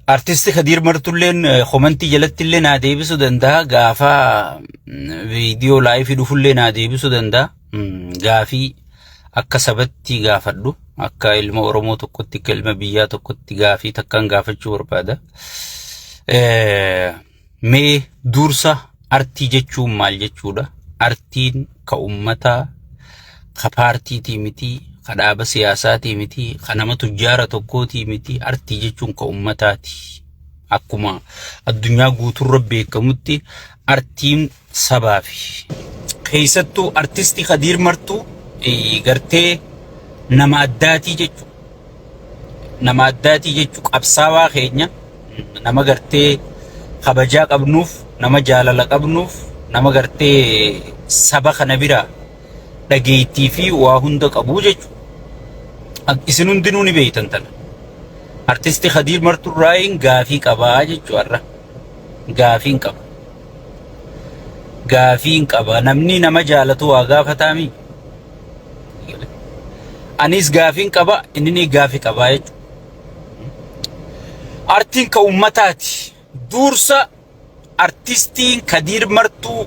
Artisti Kadiir Martulleen komantii jalatti illee naa deebisuu danda'a. Gaafa viidiyoo laayifii dhufullee naa deebisuu danda'a. gaafii akka sabatti gaafadhu akka ilma Oromoo tokkotti akka ilma biyyaa tokkotti gaafii takkaan gaafachuu barbaada. Mee dursa artii jechuun maal jechuudha? Artiin ka ummataa ka paartiitii mitii ka dhaaba siyaasaatii mitii ka nama tujjaara tokkootii mitii artii jechuun ka ummataati. Akkuma addunyaa guuturra beekamutti artiin sabaa fi keessattuu artisti Kadiir Martuu eh, gartee nama addaatii jechu nama addaatii jechu qabsaawaa keenya mm, nama gartee kabajaa qabnuuf nama jaalala qabnuuf nama gartee saba kana biraa dhageettii fi waa hunda qabuu jechu Ak- isin hundinuu ni beektan tana artisti Kadiir Martuu irraa gaafii qabaa jechu har'a. Gaafiin qaba. Gaafiin qaba. Namni nama jaalatu waa gaafataami. Anis gaafiin qaba, inni ni gaafi qaba jechuudha. Artiin ka ummataati. Duursa artistiin Kadiir Martuu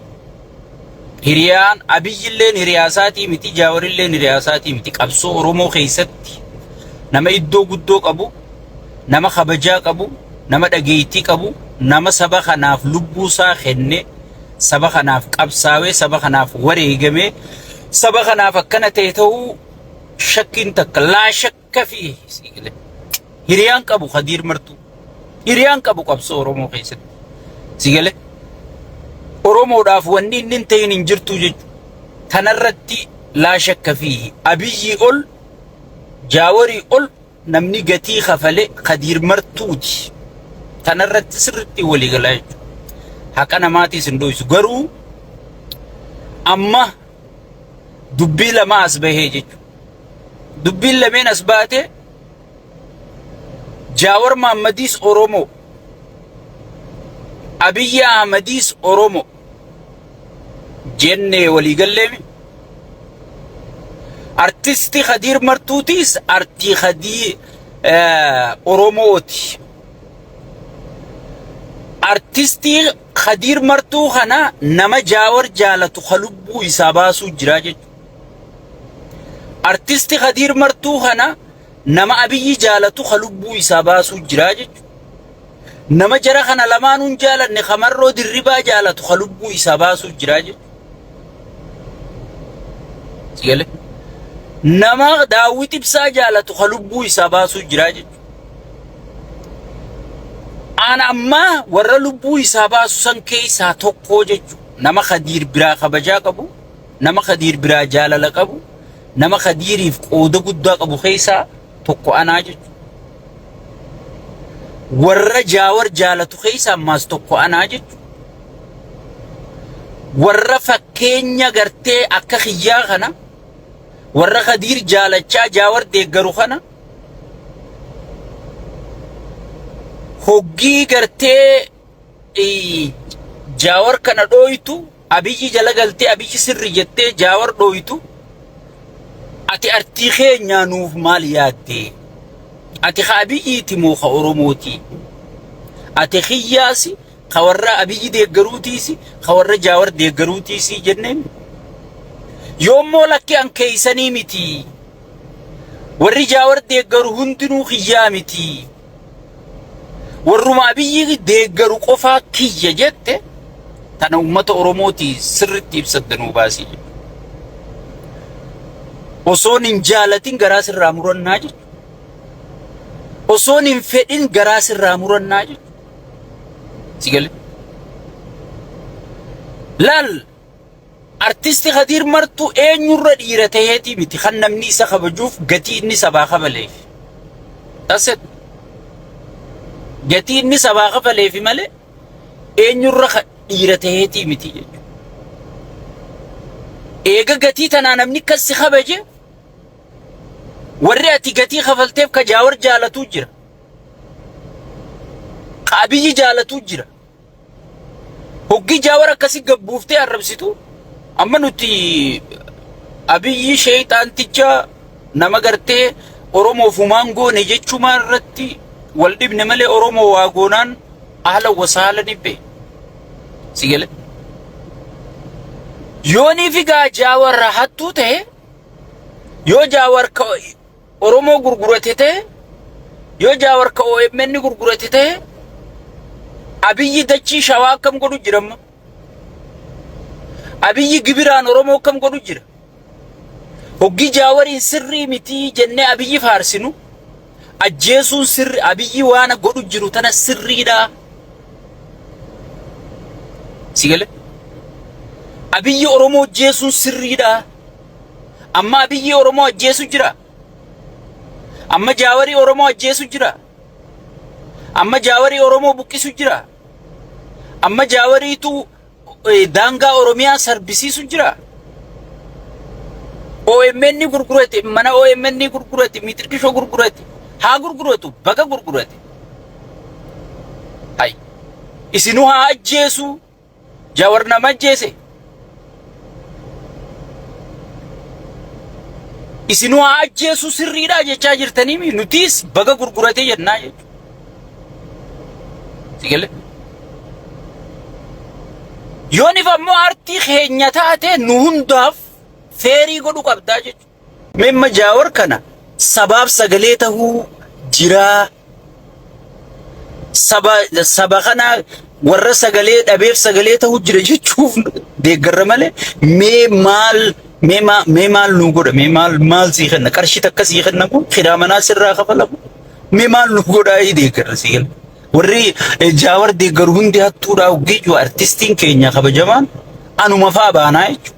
Hiriyaan Abiyyilleen hiriyaa isaatii miti, Jaawarilleen hiriyaa isaatii miti. Qabsoo Oromoo keessatti nama iddoo guddoo qabu, nama kabajaa qabu, nama dhageettii qabu, nama saba kanaaf lubbuu isaa kenne, saba kanaaf qabsaawee, saba kanaaf wareegamee, saba kanaaf akkana ta'e ta'uu shakkiin takka laa shakka. Akka fi siigilee. Hiriyaan qabu Kadiir Martuu. Hiriyaan qabu qabsoo Oromoo keessatti. Siigilee. Oromoodhaaf wanni inni hin ta'in hin jirtu jechuudha. Tanarratti laa shakka fi abiyyii ol jaawarii ol namni gatii kafale Kadiir Martuuti. Tanarratti sirriitti walii galaa jechuudha. Haqa namaatiis hin dho'isu. Garuu amma dubbii lama as bahee jechuudha. Dubbiin lameen as baate Jaawar Maammadiis Oromoo, Abiyyi Ahmadiis Oromoo jennee walii galleemi. Artisti Kadiir Martuutiis artii Kadii Oromooti. Artistii Kadiir martuu kana nama jaawar jaalatu ka lubbuu isaa baasuu jiraa jechu. Artisti kadiir martuu kana nama abiyyi jaalatu ka lubbuu isaa baasuu jiraa jechu. Nama jara kana lamaanuun jaalanne ka marroo dirribaa jaalatu ka lubbuu isaa baasuu jiraa jechu. Sigale. Nama daawwit ibsaa jaalatu ka lubbuu isaa baasuu jiraa jechu. An ammaa warra lubbuu isaa baasu san keessaa tokkoo jechu nama Khadiir biraa kabajaa qabu, nama Khadiir biraa jaalala qabu, nama Khadiiriif qooda guddaa qabu keessaa tokko anaa jechu. Warra jaawar jaalatu keessaa ammaas tokko anaa jechu. Warra fakkeenya gartee akka kiyyaa kana warra Khadiir jaalachaa jaawar deeggaru kana hoggii gartee jaawar kana dhooytu abiyyi jala galtee abiyyi sirri jettee jaawar dhooytu ati artii keenyaa nuuf maal yaaddee ati ka abiyyiiti moo ka oromootii ati kiyyaasi ka warra abiyyi deeggaruutiisi ka warra jaawar deeggaruutiisi jenneen yoommoo lakkee an keeysanii mitii Warri Jaawar deeggaru hundinuu kiyyaa miti. Warruma Abiyyi deeggaru qofaa kiyya jette tana uummata Oromooti sirritti ibsadda nuu baasii jedhe. Osoon hin jaalatin garaa sirraa murannaa jechu. Osoon hin fedhin garaa sirraa murannaa jechu. Si galee? Laal! Artisti Kadiir Martuu eenyurra dhiira taheetii miti kan namni isa kabajuuf gatii inni sabaa kafaleefi. That's it. Gatii inni sabaa kafaleefi malee eenyurra ka dhiira taheetii miti jechuudha. Eega gatii tanaa namni akkas si kabaje warri ati gatii kafalteef ka jaawar jaalatuu jira. Ka abiyyi jaalatuu jira. Hoggi jaawar akkasi gabbuuftee arrabsitu amma nuti abiyyi sheeyxaanticha nama gartee oromoof humaan goone jechumaa irratti wal dhibne malee oromoo waa goonaan ahla wasaala nibbe si gale yoonii figaa jaawar hattuu ta'e yoo jaawar ka Oromoo gurgurate ta'e, yoo Jaawar ka OMN gurgurate ta'e, Abiyyi dachii Shawaa akkam godhu jira amma? Abiyyi gibiraan Oromoo akkam godhu jira? Hoggi Jaawariin sirrii mitii jennee Abiyyi faarsinu, ajjeesuun sirri Abiyyi waana godhu jiru tana sirriidha. Si galee? Abiyyi Oromoo ajjeesuun sirriidha. Amma Abiyyii Oromoo ajjeesu jira. Amma Jaawarii Oromoo ajjeesu jira. Amma Jaawarii Oromoo buqqisu jira. Amma Jaawariitu eh, daangaa Oromiyaa sarbisiisu jira. OMN ni gurgurate, mana OMN ni gurgurate, mixiqishoo gurgurate. Haa gurguratu, baga gurgurate. Hay. Isinuu haa ajjeesu. Jawar nama ajjeese. Isin waa ajjeesuu sirriidhaa jechaa jirtanii mi? Nutiis baga gurguratee jennaa jechuudha. Sigalee. Yoonif ammoo artii keenya taate nu hundaaf feerii godhu qabdaa jechuudha. Mee amma jaawar kana sabaaf sagalee tahuu jiraa saba saba kana warra sagalee dhabeef sagalee tahuu jira jechuuf deeggarra malee mee maal mee maa- mee maal nuu godha mee maal maal sii kenna qarshii takka sii kenna kun kiraa manaa sirraa kafala kun mee maal nuu godha ii deeggarra sii kenna warri eh, jaawar deeggaru hundi hattuudhaa hoggeeyyuu artistiin keenya kabajamaan anuma faa baanaa jechuudha.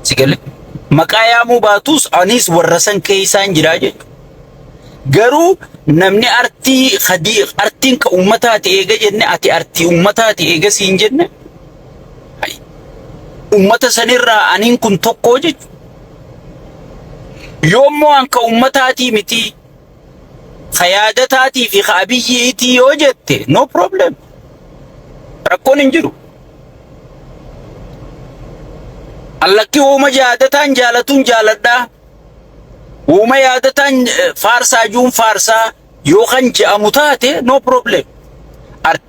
Sigalee maqaa yaamuu baatus anis warra san keessaan jira jechuudha. Garuu namni artii hadii artiin ka ummataati eega jenne ati artii ummataati eega siin jenne ummata sanirraa aniin kun tokkoo jechuudha. Yoommoo an ka ummataatii mitii Ka yaadataatii fi ka abiyyi'iitii yoo jette no problem. Rakkoon hin jiru. Allakki uuma yaadataan jaalatuun jaaladhaa. Uuma yaadataan eh, faarsaa juun faarsaa yoo kan je'amu taate no problem. Art-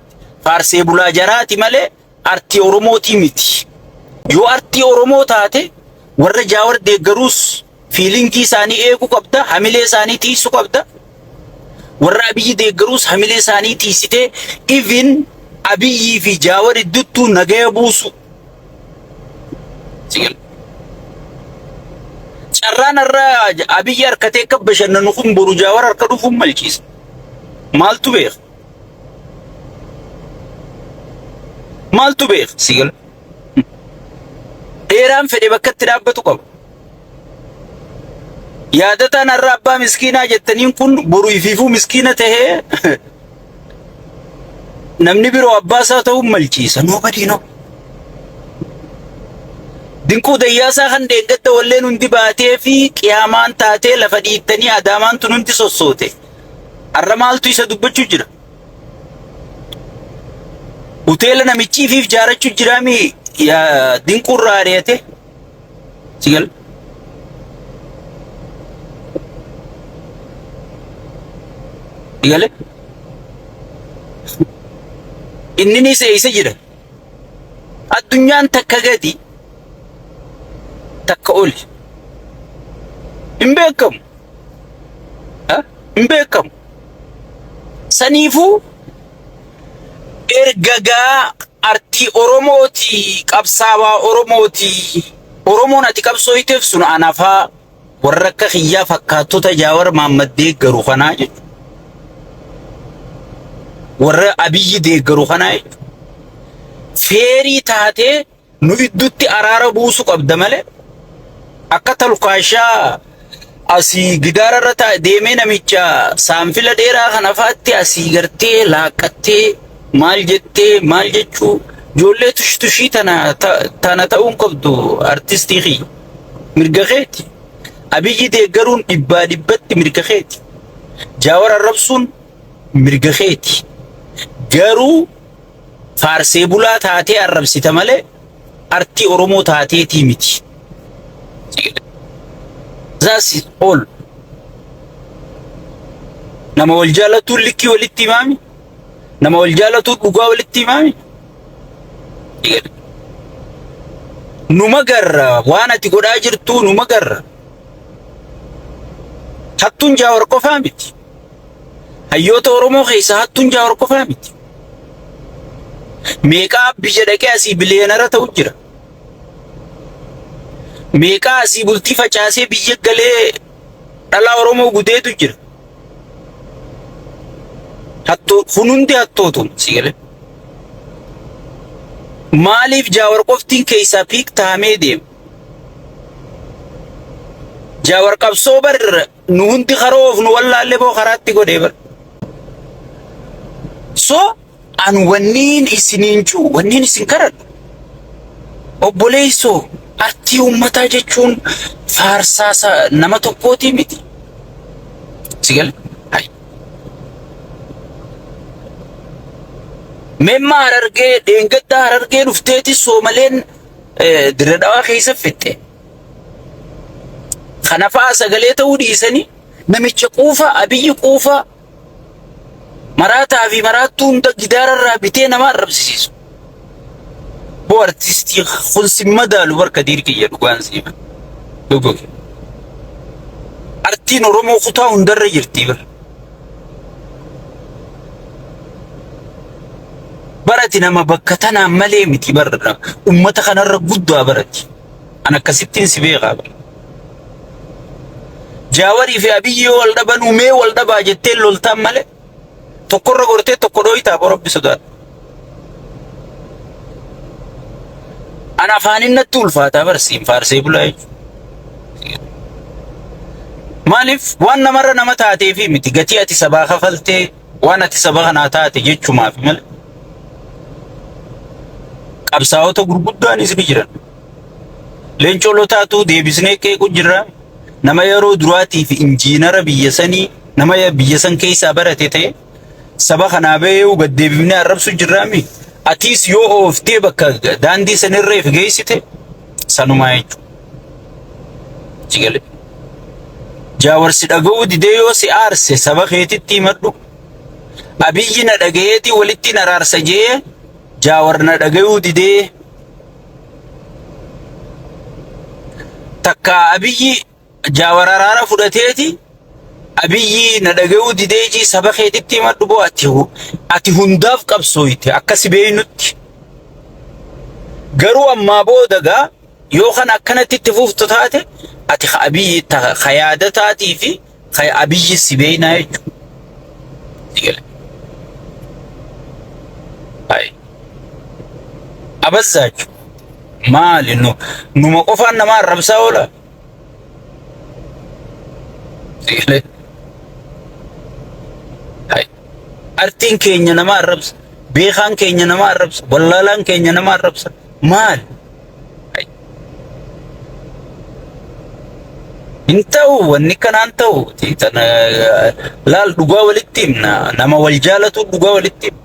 Faarsee bulaa jaraati malee artii Oromootii miti. Yoo artii Oromoo taate warra Jaawar deeggaruus fiilingii isaanii eeguu qabda, hamilee isaanii tiisu qabda. Warra Abiyyi deeggaruus hamilee isaanii tiisitee even Abiyyii fi Jaawar idduttuu nagaya buusu. Sigil. Carraan har'a Abiyyi harkatee akka bashannanu kun boru Jaawar harka dhufuun malchiisa. Maaltu beeka? Maaltu beeka si gala? Dheeraan fedhe bakka itti dhaabbatu qaba. Yaadataan har'a abbaa miskiinaa jettaniin kun boru ifiifuu miskiina ta'ee namni biroo abbaa isaa ta'uun malciisa. Nobody know. Dinquu dayyaasaa kan deeggatta walleen hundi baatee fi qiyaamaan taatee lafa dhiittanii adaamaan tun hundi sossoote. Har'a maaltu isa dubbachuu jira? Hoteela namichii fi ijaarachuu jira mi yaa dinquu irraa ari'ate? Si gala. Si gale? Inninis eessa jira? Addunyaan takka gadi takka oli hin beekamu. Hin beekamu. Saniifuu ergagaa artii Oromooti qabsaawaa Oromooti Oromoon ati qabsooyteef sun anafaa. Warra akka kiyyaa fakkaattota Jaawar Maammad deeggaru kanaa jechuudha. Warra Abiyyi deeggaru kanaa jechuudha. Feerii taatee nu iddutti araara buusu qabda malee akka talkaashaa asii gidaara irra taa'e deemee namicha saanfila dheeraa kana faatti asii gartee laaqqattee maal jettee maal jechuu ijoollee tushitushii tana ta- tana ta'uun qabdu artistii kiyya. Mirga keeti. Abiyyi deeggaruun dhibbaa dhibbatti mirga keeti. Jaawar arrabsuun mirga keeti. Garuu faarsee bulaa taatee arrabsita malee artii Oromoo taateetii miti. That's it all. Nama wal jaalatuun likkii walitti himaami. Nama wal jaalatuun dhugaa walitti himaami. Numa garra waan ati godhaa jirtuu numa garra. Hattuun jaawar qofaa miti. Hayyoota Oromoo keessaa hattuun jaawar qofaa miti. Meeqaa biyya dhaqee asii biliyeenara ta'u jira. Meeqaa asii bultii facaasee biyya galee Dhalaa Oromoo gudeedu jira. Hattoo kun hundi hattootu sigalee. Maaliif jaawar qoftiin keessaa piik tahamee deema? Jaawar qabsoo bar nu hundi karoo of nu wallaallee boo karaatti godhee bar. So An wanniin isiniin juu, wanniin isin karadhu, obboleeysoo artii ummataa jechuun faarsaa sa- nama tokkootii miti. Si gale? Hay. Memma harargee, dheengadda harargee dhufteeti soomaleen eh, dirre dhawaa keessa fixxe. Kanafaa sagalee ta'uu dhiisanii namicha quufa, abiyyi quufa, maraataa fi maraattuu hunda gidaararraa bitee nama arrabsisiisu. Boo artistii kun sin madaalu barka diir kiyya dhugaan siima. Dhuguuf. Artiin Oromoo kutaa hundarra jirti bara. Barati nama bakka tanaan malee miti bara. Ummata kanarra guddaa barati. An akkasittiin si beekaa bara. Jaawarii fi Abiyyi yoo wal dhabanuu mee wal dhabaa jettee loltaan malee tokkorra gortee tokko dhooytaa boo rabbi sodaadha. An afaanin natti ulfaataa barsiin faarsee bulaa jechuudha. Maaliif waan namarra nama taatee fi miti gatii ati sabaa kafaltee waan ati saba kanaa taate jechumaaf malee qabsaa'ota gurguddaanis ni jiran. Leencoo Lotaatuu deebisnee qeequu jirra. Nama yeroo duraatiif injiinara biyya sanii nama biyya san keessaa barate ta'e saba kanaa ba'ee'uu gad deebifnee arrabsu jirraami. Atiis yoo ooftee bakka daandii sanirra if geessite sanumaa jechuudha. Si galee? Jaawarsi dhaga'uu didee yoo si aarse saba keetitti himadhu. Abiyyi na dhaga'eetii walitti na raarsa jee jaawar na dhaga'uu didee takka abiyyi jaawararaara fudhateeti abiyyi na dhaga'uu dideeji saba keetitti himadhu boo ati hu- ati hundaaf qabsooyte akka si beeynutti garuu ammaa booda gaa yoo kan akkanatti itti fuftu taate ati ka abiyyi ta- ka yaada taatii fi Kay abiyyi si beeynaa jechuudha. Digale. Ay. Abazzaachu. Maali nu numa qofaan nama arrabsaa oola. Digale. Ay. Artiin keenya nama arrabsa. Beekaan keenya nama arrabsa. Wallaalaan keenya nama arrabsa. Maali? Hay. Hin ta'u wanni kanaan ta'u xiixan laal dhugaa walitti himna nama wal jaalatu dhugaa walitti himna.